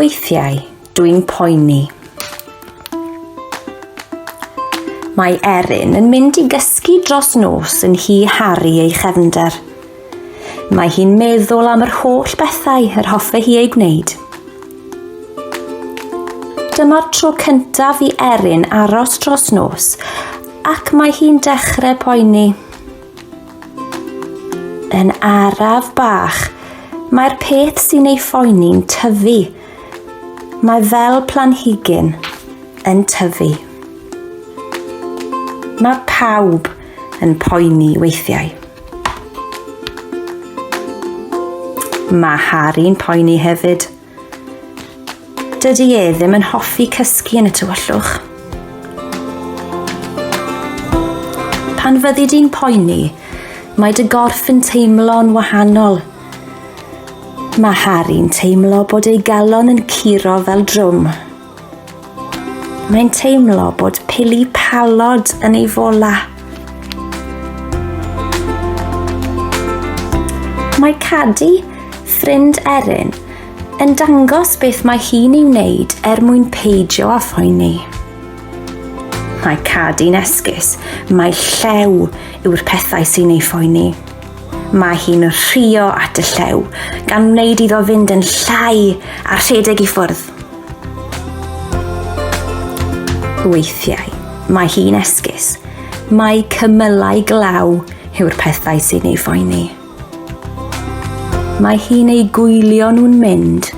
Weithiau, dwi'n poeni. Mae Erin yn mynd i gysgu dros nos yn hi Harry ei chefnder. Mae hi'n meddwl am yr holl bethau yr hoffe hi ei gwneud. Dyma'r tro cyntaf i Erin aros dros nos ac mae hi'n dechrau poeni. Yn araf bach, mae'r peth sy'n ei phoeni'n tyfu. Mae fel planhigyn yn tyfu. Mae pawb yn poeni weithiau. Mae Harry'n poeni hefyd. Dydy e ddim yn hoffi cysgu yn y tywyllwch. Pan fyddi di'n poeni, mae dy gorff yn teimlo'n wahanol. Mae Harry'n teimlo bod ei galon yn curo fel drwm. Mae'n teimlo bod pili palod yn ei fola. Mae Cadi, ffrind Erin, yn dangos beth mae hi'n ei wneud er mwyn peidio â phoeni. Mae Cadi'n esgus, mae llew yw'r pethau sy'n ei phoeni. Mae hi'n rhio at y llew, gan wneud iddo fynd yn llai a rhedeg i ffwrdd. Weithiau, mae hi'n esgus. Mae cymylau glaw yw'r pethau sy'n ei phoeni. Mae hi'n ei gwylio nhw'n mynd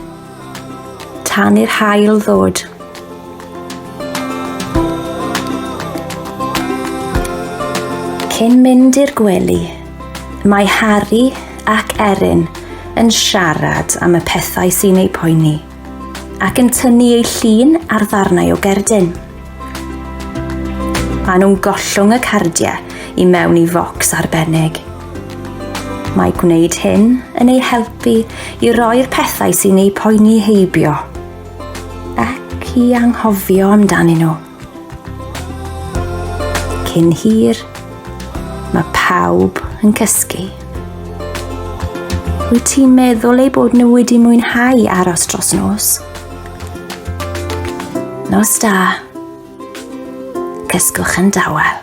tan i'r hael ddod. Cyn mynd i'r gwely, Mae Harri ac Erin yn siarad am y pethau sy'n eu poeni ac yn tynnu eu llun ar ddarnau o gerdyn. Maen nhw'n gollwng y cardiau i mewn i focs arbennig. Mae gwneud hyn yn eu helpu i roi'r pethau sy'n eu poeni heibio ac i anghofio amdanyn nhw. Cyn hir, mae pawb yn cysgu. Wyt ti'n meddwl ei bod nhw wedi mwynhau aros dros nos? Nos da. Cysgwch yn dawel.